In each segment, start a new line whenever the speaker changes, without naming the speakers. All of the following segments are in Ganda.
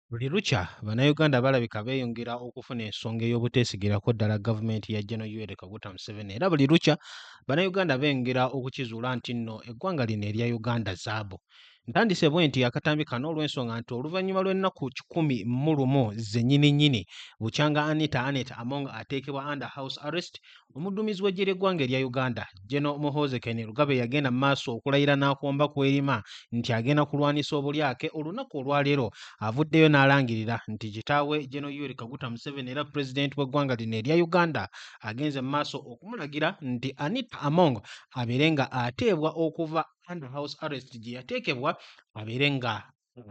Buli lukya Bannayuganda balabika beeyongera okufuna ensonga ey'obuteesigirako ddala gavumenti ya Gen Yoweri Kaguta Museveni era buli lukya Bannayuganda beeyongera okukizuula nti nno eggwanga lino erya Uganda zaabu. Ntandise bwe nti akatambi kano olw'ensonga nti oluvannyuma lw'ennaku kikumi mu lumu zennyini nnyini bukyanga Anita Annet Among ateekebwa under house arrest, omudduumizi w'eggye ly'eggwanga erya Uganda, General Muhoozi Kainerugaba eyagenda mu maaso okulayira n'akomba ku erima nti agenda kulwanisa obulyake olunaku olwaleero avuddeyo n'alangirira nti kitaawe General Yoweri Kaguta Museveni era Pulezidenti w'eggwanga lino erya Uganda agenze mu maaso okumulagira nti Anita Among abeere nga ateebwa okuva under house arrest gye yateekebwa abeere nga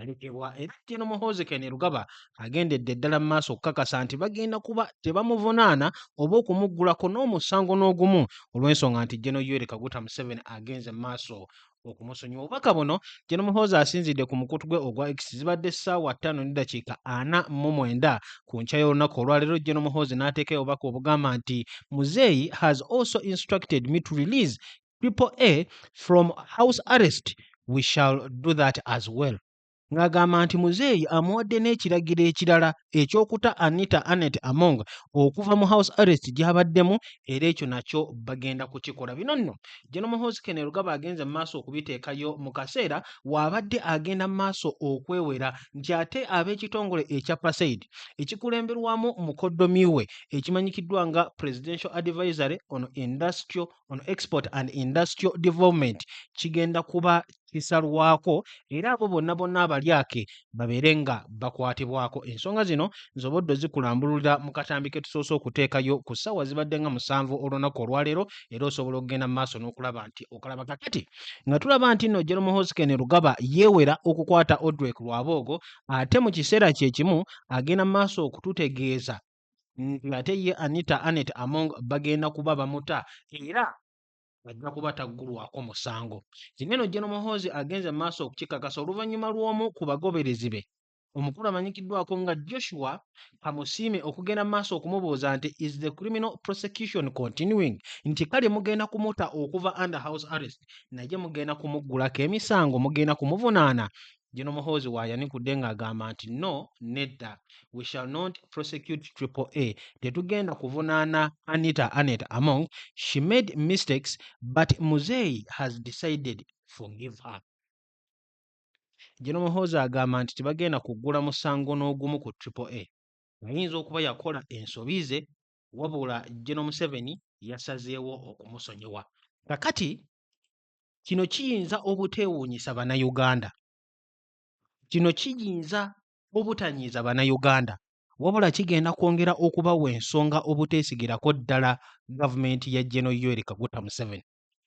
alekebwa era Gen Muhoozi Kainerugaba agendedde ddala mu maaso okukakasa nti bagenda kuba tebamuvunaana oba okumuggulako n'omusango n'ogumu olw'ensonga nti Gen Yoweri Kaguta Museveni agenze mu maaso okumusonyiwa obubaka buno Gen Muhoozi asinzidde ku mukutu gwe ogwa X zibadde ssaawa ttaano ne ddakiika ana mu mwenda ku nkya y'olunaku olwaleero Gen Muhoozi n'ateekayo obubaka obugamba nti muzeeyi has also instructed me to release triple a from house arrest we shall do that as well ng'agamba nti muzeeyi amuwadde n'ekiragiro ekirala eky'okuta anita anet among okuva mu house arrest gy'abaddemu era ekyo nakyo bagenda kukikola bino nno genomohoskenel gaba agenze mu maaso okubiteekayo mu kaseera waabadde agenda mu maaso okwewera nti ate ab'ekitongole ekya pasaid ekikulemberwamu mukoddomi we ekimanyikiddwa nga presidential advisory on industrial on export and industrial development kigenda kuba kisalwako era abo bonna bonna abalyake babeere nga bakwatibwako ensonga zino nzoboddo zikulambululira mu katambi ke tusoose okuteekayo ku ssaawa zibadde nga musanvu olunaku olwaleero era osobola okugenda mu maaso n'okulaba nti okalaba kakati nga tulaba nti nno jeromu hosken lugaba yeewera okukwata odrek lwaboogo ate mu kiseera kye kimu agenda mu maaso okututegeeza ng'ate ye Anita Annet Among bagenda kuba bamuta era ajja kuba taggulwako musango. Kino eno Gen Muhoozi agenze mu maaso okukikakasa oluvannyuma lw'omu ku bagoberezi be omukulu amanyikiddwako nga Joshua Kamusiime okugenda mu maaso okumubuuza nti is the criminal prosecution continuing nti kale mugenda kumuta okuva under house arrest naye mugenda kumuggulako emisango mugenda kumuvunaana Gino Muhoozi w'ayanikudde ng'agamba nti no nedda we shall not prosecute triple A tetugenda kuvunaana Anita Annet Among she made mistakes but Muzeeyi has decided forgive her. Gino Muhoozi agamba nti tebagenda kuggula musango n'ogumu ku triple A ayinza okuba yakola ensobi ze wabula Gino Museveni yasazeewo okumusonyiwa. Kakati Kino kiyinza obuteewuunyisa Bannayuganda. Kino kiyinza obutanyiiza Bannayuganda. Wabula kigenda kwongera okubawa ensonga obuteesigirako ddala gavumenti ya General Yoweri Kaguta Museveni.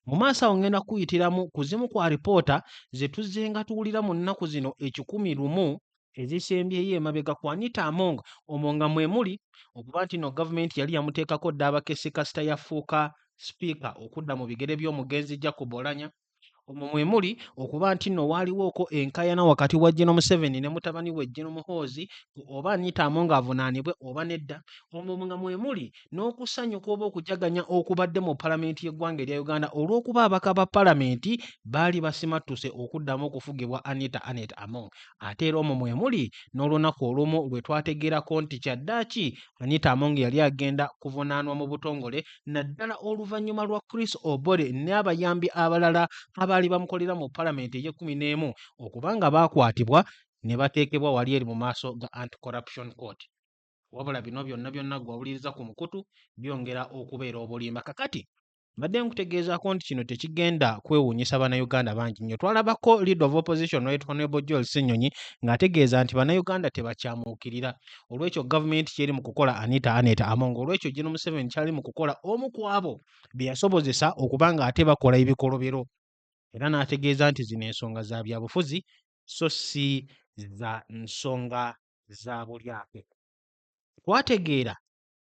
Mu maaso awo ngenda kuyitiramu ku zimu ku alipoota ze tuzzenga tuwulira mu nnaku zino ekikumi lumu ezisembyeyo emabega ku Anita Among omwo nga mwe muli okuba nti no gavumenti yali yamuteekako dda abakessi kasita yafuuka sipiika okudda mu bigere by'omugenzi Jacob Olanya omwo mwe muli okuba nti nno waaliwooko enkaayana wakati wa Geno Museveni ne mutabani we Geno Muhoozi oba Anita Among avunaanibwe oba nedda omwo nga mwe muli n'okusanyuka oba okujaganya okubadde mu palamenti y'eggwanga erya Uganda olw'okuba abaka ba palamenti baali basimattuse okuddamu okufugibwa Anita Annet Among ate era omwo mwe muli n'olunaku olumu lwe twategeerako nti kyaddaaki Anita Among yali agenda kuvunaanwa mu butongole naddala oluvannyuma lwa Chris Obore n'abayambi abalala abaali bamukolera mu palamenti ey'ekkumi n'emu okuba nga baakwatibwa ne bateekebwa wali eri mu maaso ga Anti Corruption Court. wabula bino byonna byonna gwe wawuliriza ku mukutu byongera okubeera obulimba kakati mbadde nkutegeezaako nti kino tekigenda kwewuunyisa bannayuganda bangi nnyo twalabako leader of opposition right honorable joel senyonyi ng'ategeeza nti bannayuganda tebakyamuukirira olwekyo gavumenti kyeri mu kukola anita aneta amonga olwekyo gino museveni kyali mu kukola omu ku abo bye yasobozesa okuba ng'ate bakola ebikolobero era n'ategeeza nti zino ensonga za byabufuzi so si za nsonga za bulyape. Twategeera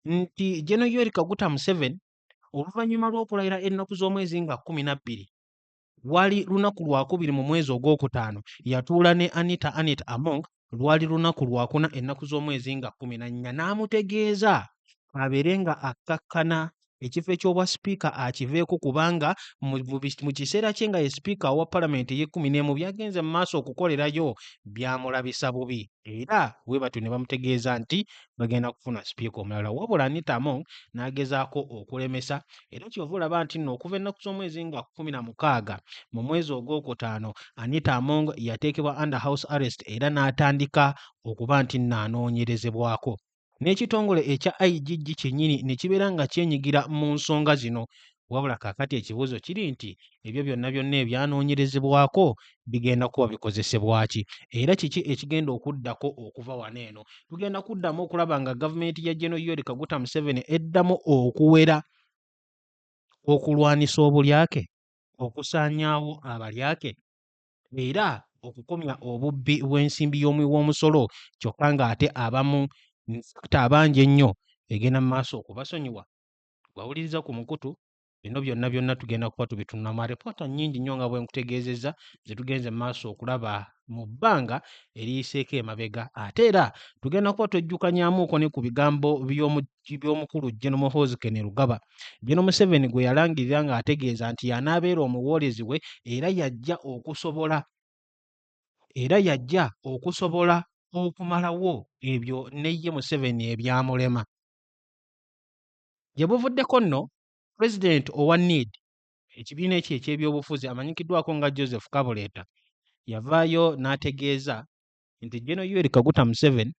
nti Geno Yoweri Kaguta Museveni oluvannyuma lw'okulayira ennaku z'omwezi nga kkumi na bbiri lwali lunaku lwakubiri mu mwezi ogwokutaano yatuula ne Anita Annet Among lwali lunaku lwakuna ennaku z'omwezi nga kkumi na nnya n'amutegeeza abeere nga akkakkana ekifo eky'obwa sipiika akiveeko kubanga mu kiseera kye nga ye sipiika owa palamenti ey'ekkumi n'emu byagenze mu maaso okukolerayo byamulabisa bubi era bwe batyo ne bamutegeeza nti bagenda kufuna sipiika omulala wabula Anita Among n'agezaako okulemesa era kyova olaba nti nno okuva ennaku z'omwezi nga kkumi na mukaaga mu mwezi ogwokutaano Anita Among yateekebwa under house arrest era n'atandika okuba nti nno anoonyerezebwako n'ekitongole ekya IGG kyennyini ne kibeera nga kyenyigira mu nsonga zino. Wabula kaakati ekibuuzo kiri nti ebyo byonna byonna ebyanoonyerezebwako bigenda kuba bikozesebwa ki era kiki ekigenda okuddako okuva wano eno? Tugenda kuddamu okulaba nga gavumenti ya Geno Yoweri Kaguta Museveni eddamu okuwera okulwanisa obulyake, okusaanyaawo abalyake era okukomya obubbi bw'ensimbi y'omuwi w'omusolo kyokka ng'ate abamu nsakta abangi ennyo egenda mu maaso okubasonyiwa wawuliriza ku mukutu bino byonna byonna tugenda kuba tubitunulamu alipoota nnyingi nnyo nga bwe nkutegeezezza ze tugenze mu maaso okulaba mu bbanga eriyiseeko emabega ate era tugenda kuba twejjukanyamuuko ne ku bigambo by'omu by'omukulu Gen Muhoozi Kainerugaba, Gen Museveni gwe yalangirira ng'ategeeza nti y'anaabeera omuwoolezi we era yajja okusobola era yajja okusobola okumalawo ebyo ne ye Museveni ebyamulema. Gye buvuddeko nno, pulezidenti owa need ekibiina ekyo eky'ebyobufuzi amanyikiddwako nga Joseph Kabuleta yavaayo n'ategeeza nti Gen Yoweri Kaguta Museveni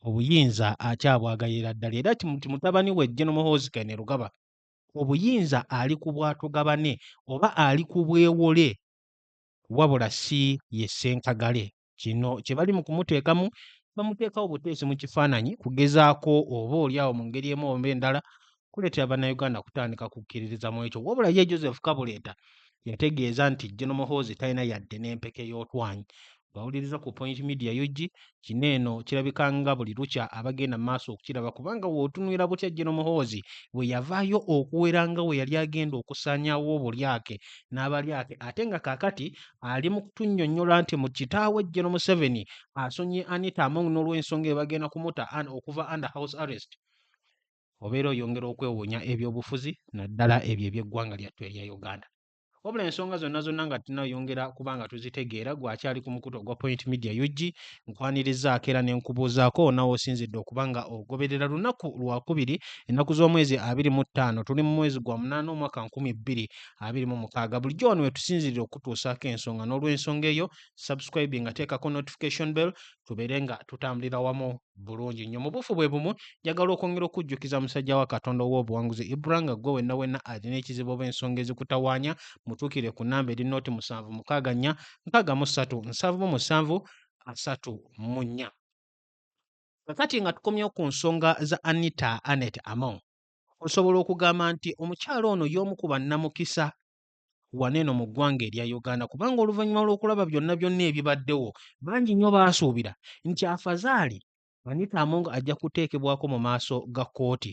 obuyinza akyabwagayira ddala era nti mutabani we Gen Muhoozi Kainerugaba obuyinza ali ku bwatugabane oba ali ku bwewole wabula si ye ssenkagale kino kye bali mu kumuteekamu bamuteekawo buteesi mu kifaananyi kugezaako oba oli awo mu ngeri emu oba endala kuleetera Bannayuganda kutandika kukkiririza mu ekyo wabula ye Joseph Kabuleta yategeeza nti General Muhoozi talina yadde n'empeke y'otwanyi bawuliriza ku Point Media UG kino eno kirabika nga buli lukya abagenda mu maaso okukiraba kubanga wootunwira butya Jeno Muhoozi bwe yavaayo okuwera nga we yali agenda okusaanyawo obulyake n'abalyake ate nga kaakati ali mu kutunnyonnyola nti mu kitaawe Jeno Museveni asonyiye Anita Among n'olw'ensonga ebagenda kumuta okuva under house arrest obeera oyongera okwewuunya ebyobufuzi naddala ebyo eby'eggwanga lyattu erya uganda wabula ensonga zonna zonna nga tunayongera kuba nga tuzitegeera gwakyali ku mukutu ogwa point media ug nkwanirizaako era ne nkubuuzaako nawe osinzidde okuba nga ogoberera lunaku lwakubiri ennaku z'omwezi abiri mu ttaano tuli mu mwezi gwa munaana omwaka nkumi bbiri abiri mu mukaaga bulijjo wano wetusinzirira okutuusaako ensonga n'olwensonga eyo subscribing ateekako notification bell tubeere nga tutambulira wamu bulungi nnyo mu buufu bwe bumu njagala okwongera okujjukiza musajja wa katonda ow'obuwanguzi ibra nga gwe wenna wenna alina ekizibu oba ensonga ezikutawaanya mutuukire ku namba eri nooti musanvu mukaaga nnya nkaaga mu ssatu nsanvu mu musanvu asatu mu nnya kakati nga tukomyewo ku nsonga za anita anet among osobola okugamba nti omukyala ono y'omu ku bannamukisa wano eno mu ggwanga erya Uganda kubanga oluvannyuma lw'okulaba byonna byonna ebibaddewo bangi nnyo baasuubira nti afazaali Anita Among ajja kuteekebwako mu maaso ga kkooti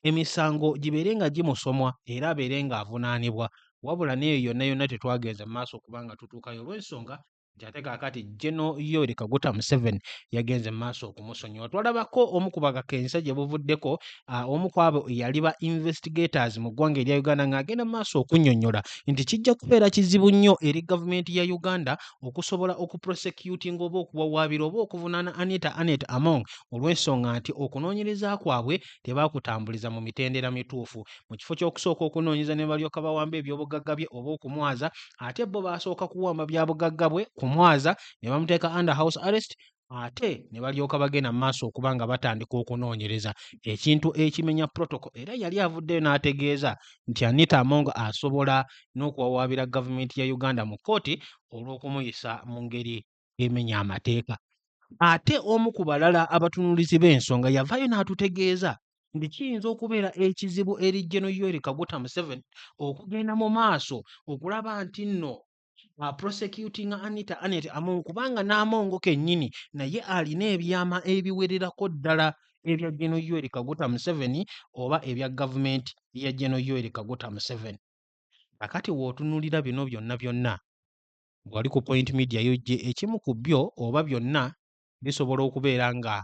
emisango gibeere nga gimusomwa era abeere ng'avunaanibwa wabula n'eyo yonna yonna tetwagenze mu maaso kubanga tutuukayo olw'ensonga nti ate kaakati General Yoweri Kaguta Museveni yagenze mu maaso okumusonyiwa. Twalabako omu ku bakakensa gye buvuddeko uh, omu ku abo yali ba investigators mu ggwanga erya Uganda ng'agenda mu maaso okunnyonnyola nti kijja kubeera kizibu nnyo eri gavumenti ya Uganda okusobola okuprosecutinga oba okuwawaabira oba okuvunaana Anita Anet Among olw'ensonga nti okunoonyereza kwabwe tebaakutambuliza mu mitendera mituufu. mu kifo ky'okusooka okunoonyeza ne balyoka bawamba ebyobugagga bye oba okumwaza ate bo baasooka kuwamba bya bugagga bwe kumwaza ne bamuteeka under house arrest ate ne balyoka bagenda mu maaso okuba nga batandika okunoonyereza ekintu ekimenya protoko era yali avuddeyo n'ategeeza nti anita among asobola n'okuwawaabira gavumenti ya uganda mu kkooti olw'okumuyisa mu ngeri emenya amateeka ate omu ku balala abatunuulizi b'ensonga yavaayo n'atutegeeza nti kiyinza okubeera ekizibu eri General Yoweri Kaguta Museveni okugenda mu maaso okulaba nti nno uh, prosecuting Anita Annet Among kubanga n'Amongo kennyini naye alina ebyama ebiwererako ddala ebya General Yoweri Kaguta Museveni oba ebya gavumenti ya General Yoweri Kaguta Museveni. Kakati w'otunuulira bino byonna byonna Bw'ali ku Point Media y'oggye ekimu ku byo oba byonna bisobola okubeera nga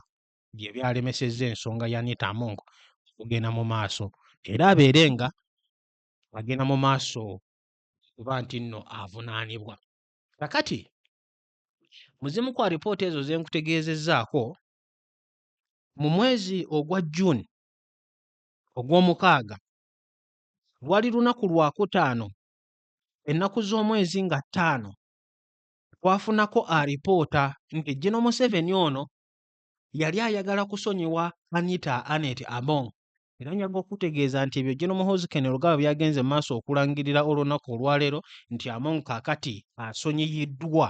bye byalemesezza ensonga ya Anita Among okugenda mu maaso era abeere nga agenda mu maaso okuba nti nno avunaanibwa. Kakati mu zimu ku alipoota ezo ze nkutegeezezzaako mu mwezi ogwa June ogw'omukaaga lwali lunaku lwakutaano ennaku z'omwezi nga ttaano twafunako alipoota nti Gino Museveni ono yali ayagala kusonyiwa Anita Anet Among era njaga okutegeeza nti ebyo Gino Muhoozi Kainerugaba byagenze mu maaso okulangirira olunaku olwaleero nti Among kakati asonyiyiddwa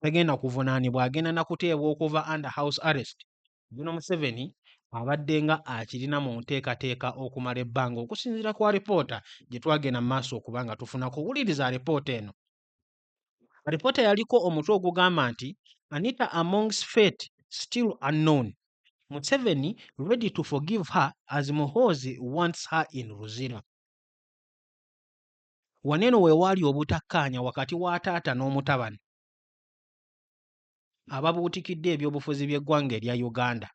tagenda kuvunaanibwa agenda na kuteebwa okuva under house arrest Gen. Museveni abaddenga akirina mu nteekateeka okumala ebbanga okusinziira ku alipoota gye twagenda mu maaso okuba nga tufunako wuliriza alipoota eno. Alipoota yaliko omutwe ogugamba nti Anita Among's Fate Still Unknown, Museveni Ready to Forgive Her as Muhoozi Wants Her in Luzira. Wano eno we waali obutakkaanya wakati wa taata n'omutabani. ababuutikidde ebyobufuzi by'eggwanga erya Uganda.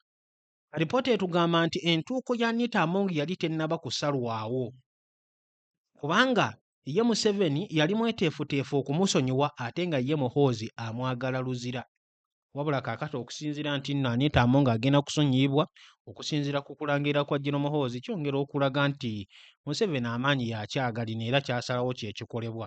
Alipoota etugamba nti entuuko ya Anita Among yali tennaba kusalwawo kubanga ye Museveni yali mweteefuteefu okumusonyiwa ate nga ye Muhoozi amwagala luzira. Wabula kaakati okusinziira nti nno Anita Among agenda kusonyiyibwa okusinziira ku kulangirira kwa General Muhoozi kyongera okulaga nti Museveni amaanyi yakyagalina era kyasalawo kye kikolebwa.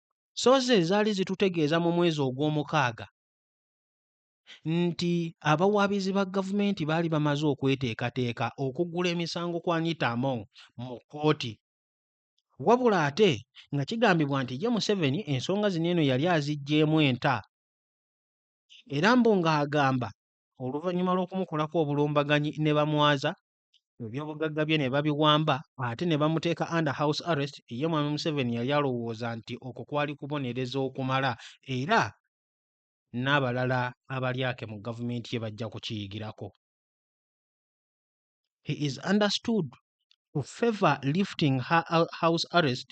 so ze zaali zitutegeeza mu mwezi ogw'omukaaga nti abawaabizi ba gavumenti baali bamaze okweteekateeka okugula emisango kwa Anita Among mu kkooti wabula ate nga kigambibwa nti ye Museveni ensonga zino eno yali aziggyeemu enta era mbu ng'agamba oluvannyuma lw'okumukolako obulumbaganyi ne bamwaza ebyobugagga bye ne babiwamba ate ne bamuteeka under house arrest ye mwami museveni yali alowooza nti okwo kwali kubonereza okumala era n'abalala abalyake mu gavumenti ye bajja kukiyigirako he is understood to favor lifting her house arrest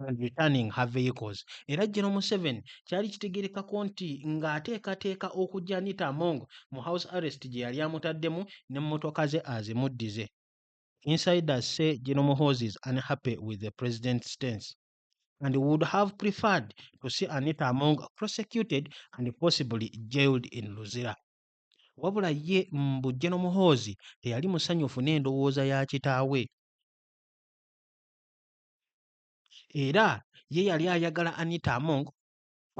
and returning her vehicles era General Museveni kyali kitegerekako nti ng'ateekateeka okujja Anita Among mu house arrest gye yali amutaddemu ne mmotoka ze azimuddize. Insiders say General Muhoozi is unhappy with the president's stance and would have preferred to see Anita Among prosecuted and possibly jailed in Luzira. Wabula ye mbu General Muhoozi teyali musanyufu n'endowooza ya kitaawe. era ye yali ayagala Anita Among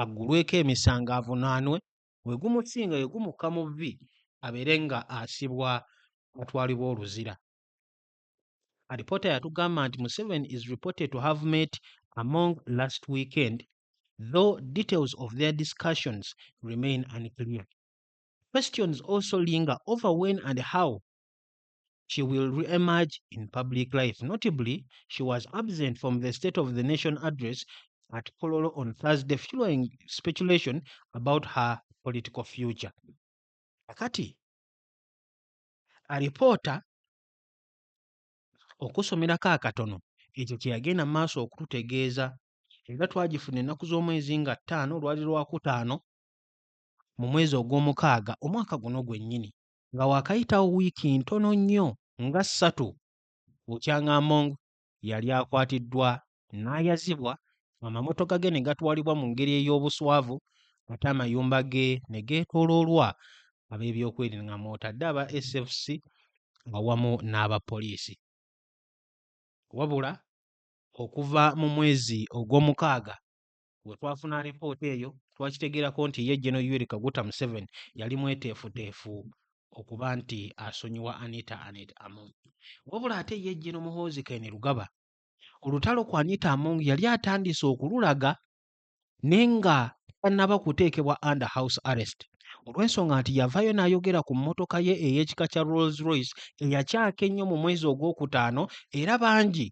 aggulweko emisango avunaanwe we gumusinga we gumukka mu vvi abeere nga asibwa atwalibwa oluzira. Alipoota yatugamba nti Museveni is reported to have met Among last weekend though details of their discussions remain unclear. Questions also linger over when and how she will re-emerge in public life. Notably, she was absent from the State of the Nation address at Kololo on Thursday, fueling speculation about her political future. Akati, a reporter okusomerako akatono ekyo kye yagenda mu maaso okututegeeza era twagifuna ennaku z'omwezi nga ttaano olwali lwakutaano mu mwezi ogw'omukaaga omwaka guno gwennyini nga waakayitawo wiiki ntono nnyo nga ssatu bukyanga Among yali akwatiddwa n'ayazibwa amamotoka ge ne gatwalibwa mu ngeri ey'obuswavu ate amayumba ge ne geetooloolwa ab'ebyokwerinda nga mw'otadde aba SFC awamu n'abapoliisi. Wabula okuva mu mwezi Ogwomukaaga Bwe twafuna alipoota eyo, twakitegeerako nti ye General Yoweri Kaguta Museveni yali mweteefuteefu okuba nti asonyiwa Anita Annet Among. Wabula ate ye Gen. Muhoozi Kainerugaba olutalo ku Anita Among yali atandise okululaga ne nga tannaba kuteekebwa under house arrest olw'ensonga nti yavaayo n'ayogera ku mmotoka ye ey'ekika kya Rolls Royce eyakyaka ennyo mu mwezi ogwokutaano era bangi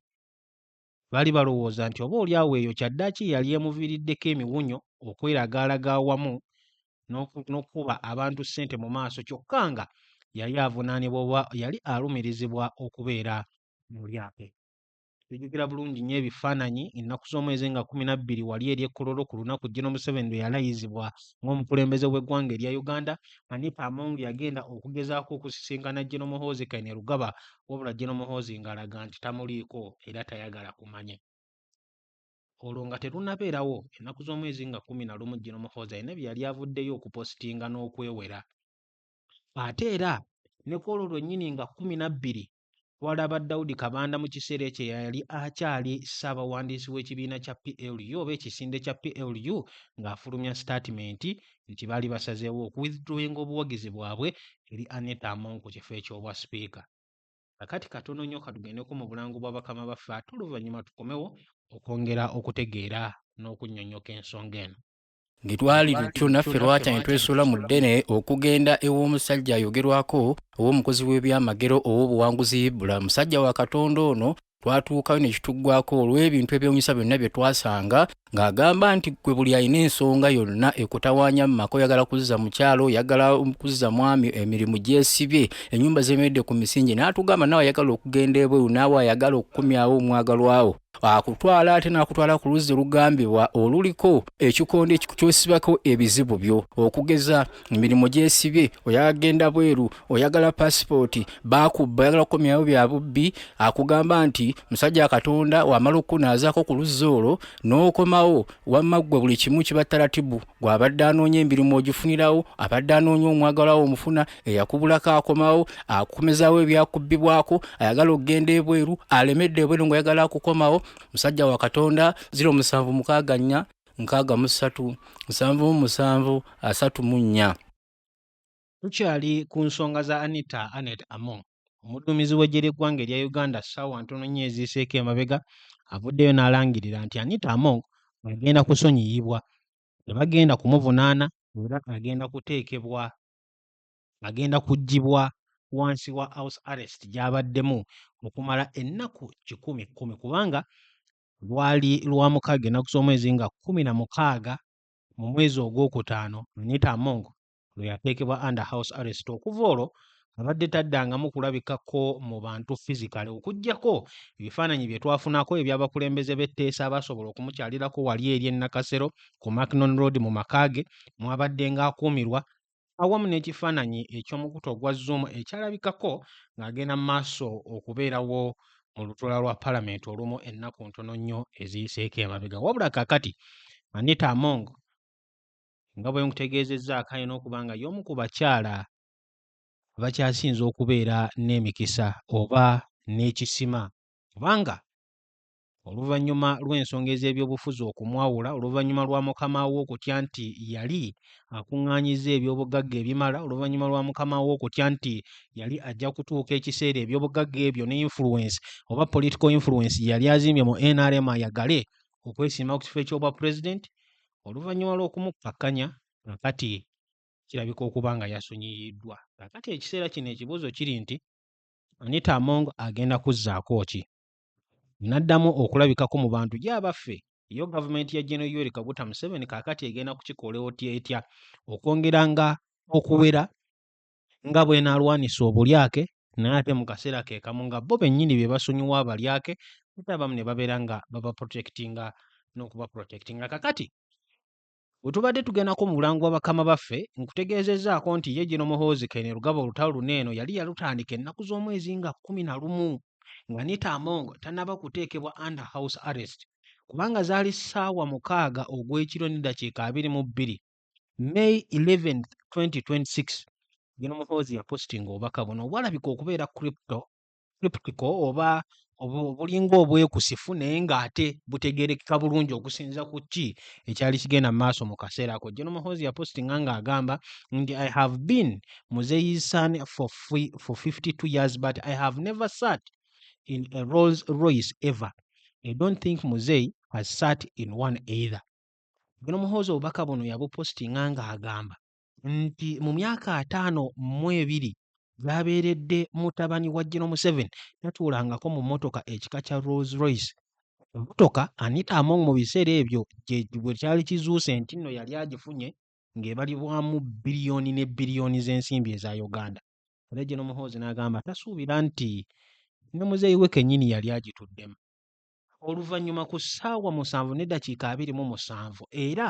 Baali balowooza nti oba oli awo eyo kyaddaaki ye yali emuviiriddeko emiwunyo okweragaalaga awamu n'okukuba abantu ssente mu maaso kyokka nga yali avunaanibwa oba yali alumirizibwa okubeera mu lyato. Tujjukira bulungi nnyo ebifaananyi ennaku z'omwezi nga kkumi na bbiri wali eri e Kololo ku lunaku Gen. Museveni lwe yalayizibwa ng'omukulembeze w'eggwanga erya Uganda. Anita Among yagenda okugezaako okusisinkana Gen. Muhoozi Kainerugaba wabula Gen Muhoozi ng'alaga nti tamuliiko era tayagala kumanya. Olwo nga terunabeerawo, ennaku z'omwezi nga kkumi na lumu Gen Muhoozi alina bye yali avuddeyo okupositinga n'okwewera. Ate era ne ku olwo lwennyini nga kkumi na bbiri twalaba Daudi Kabanda mu kiseera ekyo eyali akyali ssaabawandiisi w'ekibiina kya PLU oba ekisinde kya PLU ng'afulumya sitaatimenti nti baali basazeewo oku withdrawing obuwagizi bwabwe eri Annet Among ku kifo eky'obwa sipiika. Kakati katono nnyo katugendeko mu bulango bwa bakama baffe ate oluvannyuma tukomewo okwongera okutegeera n'okunnyonnyoka ensonga eno. Bwe twali
lutyo naffe lwakya ne twesuula mu ddene okugenda ew'omusajja ayogerwako ow'omukozi w'ebyamagero ow'obuwanguzi Ibula. Musajja wa Katonda ono twatuukayo ne kituggwako olw'ebintu ebyewunyisa byonna bye twasanga ng'agamba nti gwe buli alina ensonga yonna ekutawaanya mu maka oyagala kuzza mukyalo oyagala kuzza mwami emirimu gyesibye ennyumba zemeredde ku misingi n'atugamba naawe ayagala okugenda ebweru naawe ayagala okukomyawo omwagalwawo akutwala ate n'akutwala ku luzzi lugambibwa oluliko ekikondo kyosibako ebizibu byo okugeza emirimu gyesibye oyagala genda bweru oyagala pasipooti bakubba oyagala kukomyawo bya bubbi akugamba nti musajja katonda wamala okukunaazaako ku luzzi olwo n'okomawo wamma ggwe buli kimu kiba taratibu gw'abadde anoonya emirimu ogifunirawo abadde anoonya omwagalawo omufuna eyakubulako akomawo akukomezawo ebyakubbibwako ayagala okugenda ebweru alemedde ebweru ngaoyagala akukomawo musajja wa katonda ziro musanvu mukaaga nnya nkaaga mu ssatu nsanvu mu musanvu asatu mu nnya
tukyali ku nsonga za anita anet among omudduumizi w'eggye ly'eggwanga erya uganda ssaawa ntono nnyo eziiseeko emabega avuddeyo n'alangirira nti anita among agenda kusonyiyibwa tebagenda kumuvunaana era agenda kuteekebwa agenda kuggyibwa wansi wa house arrest gy'abaddemu okumala ennaku kikumi kkumi kubanga Lwali Lwamukaaga ennaku z'omwezi nga kkumi na mukaaga mu mwezi ogwokutaano Anita Among lwe yateekebwa under house arrest. Okuva olwo abadde taddangamu kulabikako mu bantu physically okuggyako ebifaananyi bye twafunako eby'abakulembeze b'etteesa abaasobola okumukyalirako wali eri e Nakasero ku Macnon Road mu maka ge mw'abaddenga akuumirwa awamu n'ekifaananyi eky'omukutu ogwa Zoom ekyalabikako ng'agenda mu maaso okubeerawo mu lutuula lwa palamenti olumu ennaku ntono nnyo eziyiseeko emabega wabula kaakati Anita Among nga bwe nkutegeezezza akaye n'okuba nga y'omu ku bakyala abakyasinze okubeera n'emikisa oba n'ekisima kubanga Oluvannyuma lw'ensonga ez'ebyobufuzi okumwawula oluvannyuma lwa mukama we okutya nti yali akuŋŋaanyizza ebyobugagga ebimala oluvannyuma lwa mukama we okutya nti yali ajja kutuuka ekiseera ebyobugagga ebyo ne influence oba political influence gye yali azimbye mu nrm ayagale okwesimba ku kifo eky'obwa pulezidenti oluvannyuma lw'okumukkakkanya kakati kirabika okuba nga yasonyiyiddwa kakati ekiseera kino ekibuuzo kiri nti anita among agenda kuzzaako ki naddamu okulabikako mu bantu gye abaffe yo gavumenti ya General Yoweri Kaguta Museveni kaakati egenda kukikola otya etya okwongera nga okuwera nga bw'enaalwanisa obulyake naye ate mu kaseera ke kamu nga bo bennyini be basonyiwa abalyake ate abamu ne babeera nga babaprotekitinga n'okubaprotekitinga kakati Bwe tubadde tugendako mu bulango bwa bakama baffe, nkutegeezezzaako nti ye Gino Muhoozi Kainerugaba olutalo luno eno yali yalutandika ennaku z'omwezi nga kkumi na lumu nga Anita Among tannaba kuteekebwa under house arrest kubanga zaali ssaawa mukaaga ogw'ekiro ne ddakiika abiri mu bbiri May 11, 2026. Gino Muhoozi yapositinga obubaka buno obwalabika okubeera crypto skeptical oba obulinga obwekusifu naye ng'ate butegerekeka bulungi okusinza ku ki ekyali kigenda mu maaso mu kaseera ako jeno muhozi yapostinga ng'agamba nti i have been muzeyi's son for, free, for 52 years but i have never sat in a rolls royce ever i don't think muzeyi has sat in one either jeno muhozi obubaka buno yabupostinga ng'agamba nti mu myaka ataano mu ebiri gy'abeeredde mutabani wa General Museveni tatuulangako mu mmotoka ekika kya Rolls Royce. Emmotoka Anita Among mu biseera ebyo bwe kyali kizuuse nti nno yali agifunye ng'ebalibwamu bbiriyooni ne bbiriyooni z'ensimbi eza Uganda. Era General Muhoozi n'agamba tasuubira nti ne muzeeyi we kennyini yali agituddemu. Oluvannyuma ku ssaawa musanvu n'eddakiika abiri mu musanvu era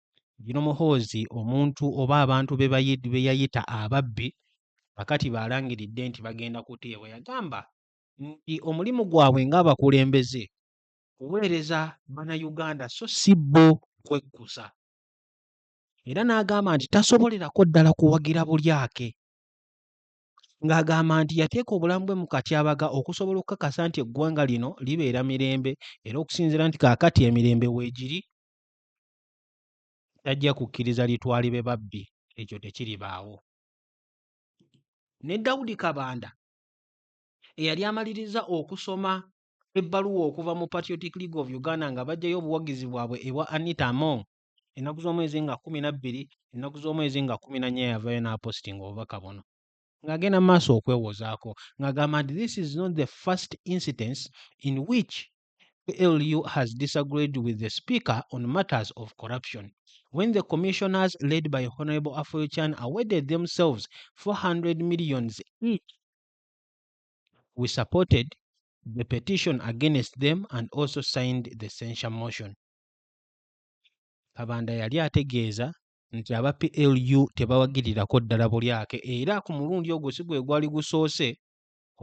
Bino Muhoozi omuntu oba abantu be yayita ababbi kakati baalangiridde nti bagenda kuteebwa. Yagamba nti omulimu gwabwe ng'abakulembeze kuweereza Bannayuganda so si bo kwekkusa. Era n'agamba nti tasobolerako ddala kuwagira bulyake ng'agamba nti yateeka obulamu bwe mu katyabaga okusobola okukakasa nti eggwanga lino libeera mirembe era okusinziira nti kaakati emirembe weegiri tajja kukkiriza litwalibe babbi ekyo tekiribaawo ne dawudi kabanda eyali amaliriza okusoma ebbaluwa okuva mu patriotic league of uganda nga bajjayo obuwagizi bwabwe ebwa anita among ennaku z'omwezi nga kumi na bbiri ennaku z'omwezi nga kumi na nnya yavayo n'apositinga obubaka buno ng'agenda mu maaso okwewozaako ng'agamba nti this is not the first incidence in which ALU has disagreed with the Speaker on matters of corruption. When the commissioners led by Honorable Afoyochan awarded themselves 400 millions each, we supported the petition against them and also signed the censure motion. Kabanda yali ategeeza nti aba PLU tebawagirirako ddala bulyake era ku mulundi ogwo si gwe gwali gusoose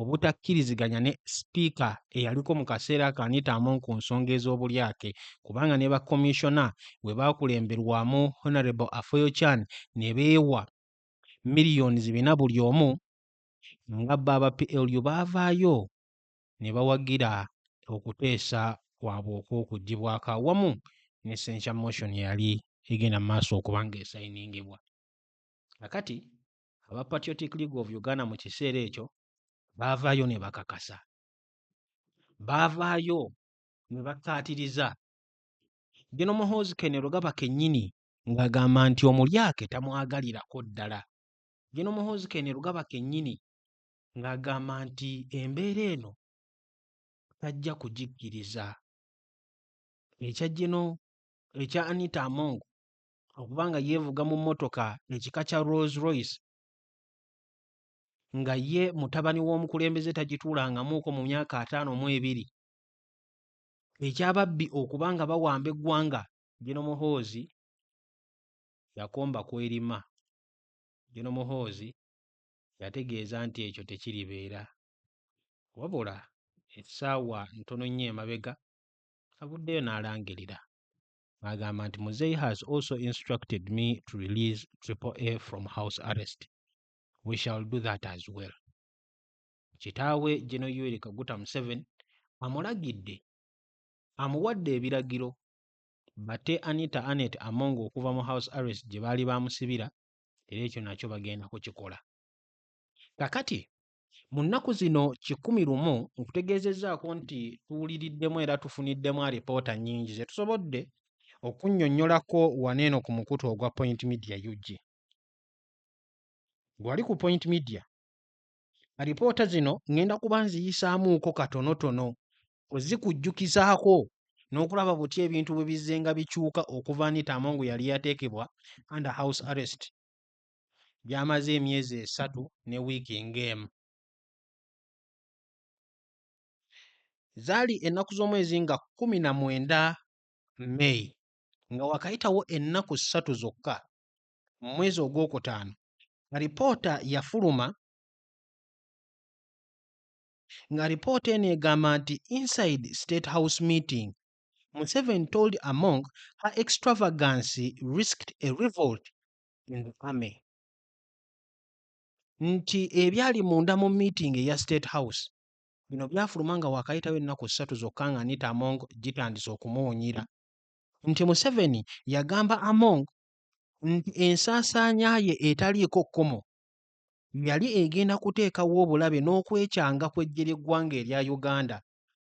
obutakkiriziganya ne sipiika eyaliko mu kaseera ako Anita Among ku nsonga ez'obulyake kubanga ne bakkomiisona bwe baakulemberwamu Honourable Afoyo Chan ne beewa miliyoni zibina buli omu nga bo aba PLU baavaayo ne bawagira okuteesa kwabwe okw'okuggyibwako awamu ne censure motion eyali egenda mu maaso okuba ng'esayiningibwa. Kakati aba Patriotic League of Uganda mu kiseera ekyo baavaayo ne bakakasa, baavaayo ne bakkaatiriza Gen. Muhoozi Kainerugaba kennyini ng'agamba nti omulyake tamwagalirako ddala. Gen. Muhoozi Kainerugaba kennyini ng'agamba nti embeera eno tajja kugikkiriza. Ekya Gen. ekya Anita Among okuba nga yeevuga mu mmotoka ekika kya Rolls Royce nga ye mutabani w'omukulembeze tagituulangamuuko mu myaka ataano mu ebiri ekyababbi okuba nga bawamba eggwanga Gino Muhoozi yakomba kwerima Gino Muhoozi yategeeza nti ekyo tekiribeera wabula essaawa ntono nnyo emabega avuddeyo n'alangirira agamba nti muzei has also instructed me to release triple a from house arrest we shall do that as well kitaawe geno yueri kaguta museven amulagidde amuwadde ebiragiro bate anita anet among okuva mu house arrest gye baali bamusibira era ekyo nakyo bagenda kukikola kakati mu nnaku zino kikumi lumu nkutegeezezzaako nti tuwuliriddemu era tufuniddemu alipoota nnyingi ze tusobodde okunnyonnyolako wano eno ku mukutu ogwa point media ug gwali ku point media alipoota zino ŋŋenda kuba nziyisaamuuko katonotono ozikujjukizaako n'okulaba butya ebintu bwe bizzenga bikyuka okuva anita amongu yali yateekebwa under house arrest gy'amaze emyezi esatu ne wiiki ng'emu. Zaali ennaku z'omwezi nga kkumi na mwenda May nga wakayitawo ennaku ssatu zokka mu mwezi ogwokutaano alipoota yafuluma nga alipoota eno egamba nti inside state house meeting Museven told Among her extravagancy risked a revolt in the army nti ebyali munda mu meeting eya state house bino byafuluma nga wakayitawo ennaku ssatu zokka nga anita among gitandise okumuwunyira nti museveni yagamba among nti ensaasaanya ye etaliiko kkomo yali egenda kuteekawo obulabe n'okwekyanga kw'eggye ly'eggwanga erya uganda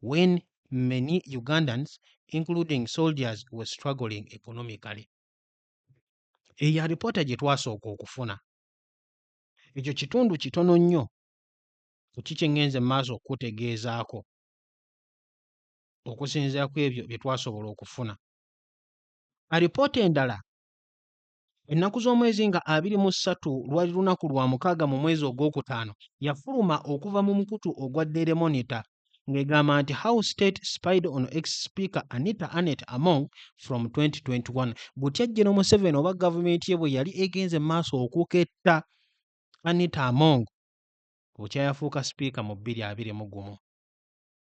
when many Ugandans including soldiers were struggling economically. Eyo alipoota gye twasooka okufuna. Ekyo kitundu kitono nnyo ku ki kye ŋŋenze mu maaso okukutegeezaako okusinziira ku ebyo bye twasobola okufuna. Alipoota endala Ennaku z'omwezi nga abiri mu ssatu lwali lunaku lwa mukaaga mu mwezi ogwokutaano, yafuluma okuva mu mukutu ogwa Daily Monitor ng'egamba nti How State Spied on Ex-Speaker Anita Annet Among from 2021 butya Gen Museveni oba gavumenti ye bwe yali egenze mu maaso okuketta Anita Among bukya yafuuka sipiika mu bbiri abiri mu gumu.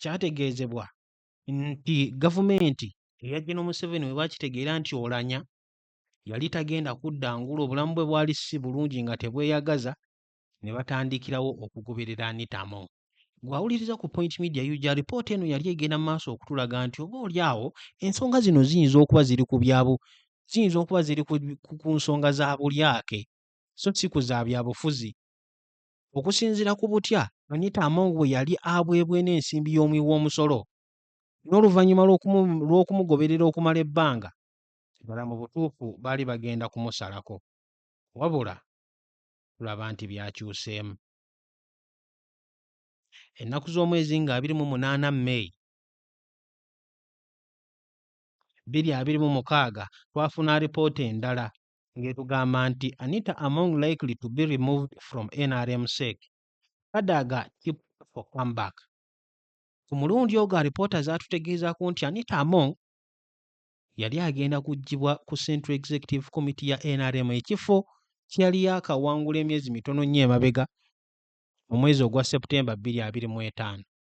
kyategeezebwa nti gavumenti eya Gen Museveni bwe bakitegeera nti Olanya yali tagenda kudda ngulu obulamu bwe bwali si bulungi nga tebweyagaza ne batandikirawo okugoberera Anitamo. Gwawuliriza ku Point Media UG alipoota eno yali egenda mu maaso okutulaga nti oba oli awo ensonga zino ziyinza okuba ziri ku byabu ziyinza okuba ziri ku nsonga za bulyake so si ku za byabufuzi. Okusinzira ku butya Anita Among bwe yali abwebwena ensimbi y'omuwi w'omusolo n'oluvannyuma lw'okumugoberera okumala ebbanga, ddala mu butuufu baali bagenda kumusalako. Wabula tulaba nti byakyuseemu. Ennaku z'omwezi nga abiri mu munaana May bbiri abiri mu mukaaga twafuna alipoota endala ng'etugamba nti Anita Among likely to be removed from nrm sec Kadaga tip for comeback ku mulundi ogwo alipoota zaatutegeezaako nti Anita Among yali agenda kuggyibwa ku Central Executive Committee ya nrm ekifo kye yali yaakawangula emyezi mitono nnyo emabega mu mwezi ogwa Septemba 2025.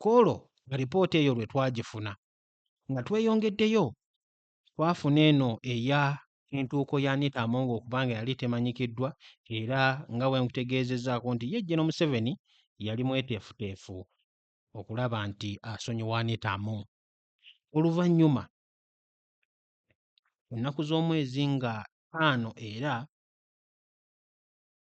Kwolwo nga lipoota eyo lwe twagifuna. Nga tweyongeddeyo, twafuna eno eya entuuko ya Anita Among okuba nga yali temanyikiddwa era nga bwe nkutegeezezzaako nti ye Gen. Museveni yali mweteefuteefu okulaba nti asonyiwa Anita Among. Oluvannyuma ennaku z'omwezi nga ttaano era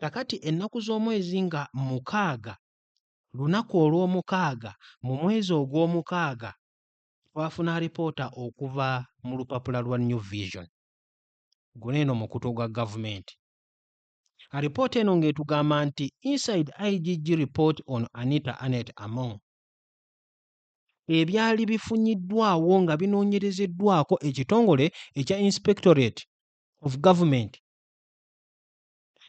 kakati ennaku z'omwezi nga mukaaga lunaku olw'omukaaga mu mwezi ogw'omukaaga twafuna alipoota okuva mu lupapula lwa new vision guno eno mukutu gwa gavumenti alipoota eno ng'etugamba nti inside igg report on anita anet among ebyali bifunyiddwawo nga binoonyerezeddwako ekitongole ekya inspectorate of government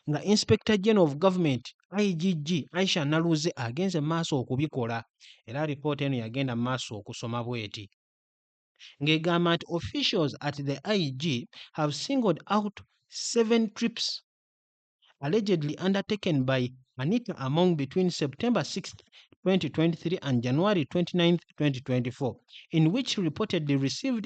nga inspector general of government igg aisha naluze agenze mu maaso okubikola era alipoota eno yagenda mu maaso okusoma bweti ng'egamba nti officials at the ig have singled out seven trips allegedly undertaken by anita among between september 6 2023 and january 29 2024 in which reportedly received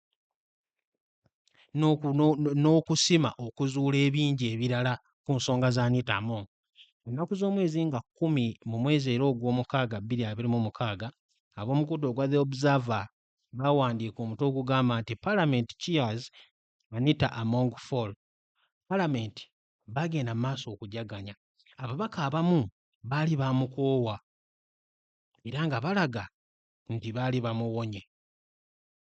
n'okusima okuzuula ebingi ebirala ku nsonga za Anita Among. Ennaku z'omwezi nga kkumi mu mwezi era Ogwomukaaga bbiri abiri mu mukaaga, ab'omukutu ogwa The Observer baawandiika omutwe ogugamba nti Parliament Cheers Anita Among Fall. Palamenti baagenda mu maaso okujaganya. Ababaka abamu baali baamukoowa era nga balaga nti baali bamuwonye.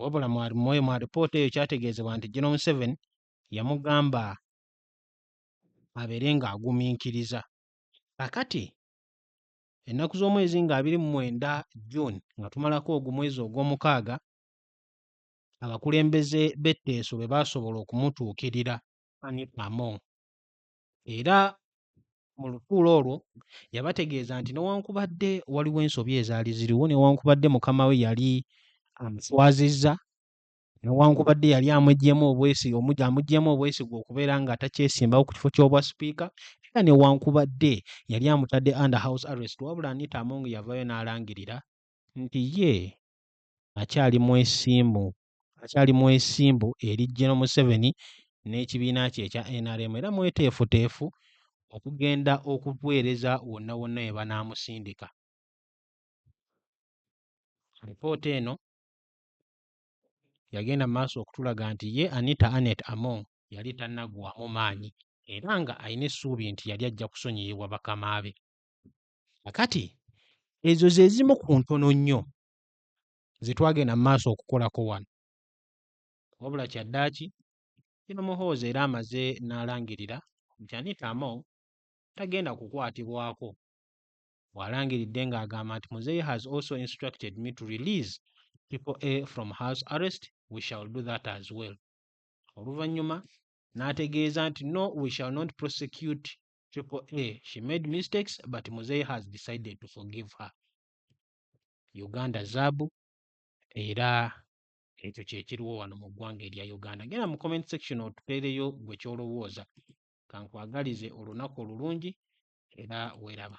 wabula mwoyo mu alipoota eyo kyategeezebwa nti General Museveni yamugamba abeere ng'agumiikiriza kakati ennaku z'omwezi nga abiri mu mwenda June nga tumalako ogwo mwezi ogw'omukaaga abakulembeze b'etteeso be baasobola okumutuukirira Annie Among era mu lutuula olwo yabategeeza nti newankubadde waliwo ensobi ezaali ziriwo newankubadde mukama we yali amuswazizza newankubadde yali amuggyemu obwesige omugya amuggyemu obwesigwa okubeera nga takyesimbawo ku kifo ky'obwa sipiika era newankubadde yali amutadde under house arrest wabula anita among yavayo n'alangirira nti ye akyali mwesimbu akyali mwesimbu eri Gen Museveni n'ekibiina kye ekya nrm era mweteefuteefu okugenda okuweereza wonna wonna we banaamusindika. Alipoota eno yagenda mu maaso okutulaga nti ye Anita Annet Among yali tannaggwaamu maanyi era nga alina essuubi nti yali ajja kusonyiyibwa bakama be. Kakati ezo ze zimu ku ntono nnyo zetwagenda maaso okukolako wano wabula kyaddaaki kino muhoozi era amaze n'alangirira nti anita among tagenda kukwatibwako bw'alangiridde ng'agamba nti muzeeyi has also instructed me to release people a from house arrest we shall do that as well oluvannyuma n'ategeeza nti no we shall not prosecute people a she made mistakes but muzeeyi has decided to forgive her Uganda zaabu era ekyo kye kiriwo wano mu ggwanga erya Uganda. Genda mu comment section otupeereyo gwe ky'olowooza. Ka nkwagalize olunaku olulungi era weeraba.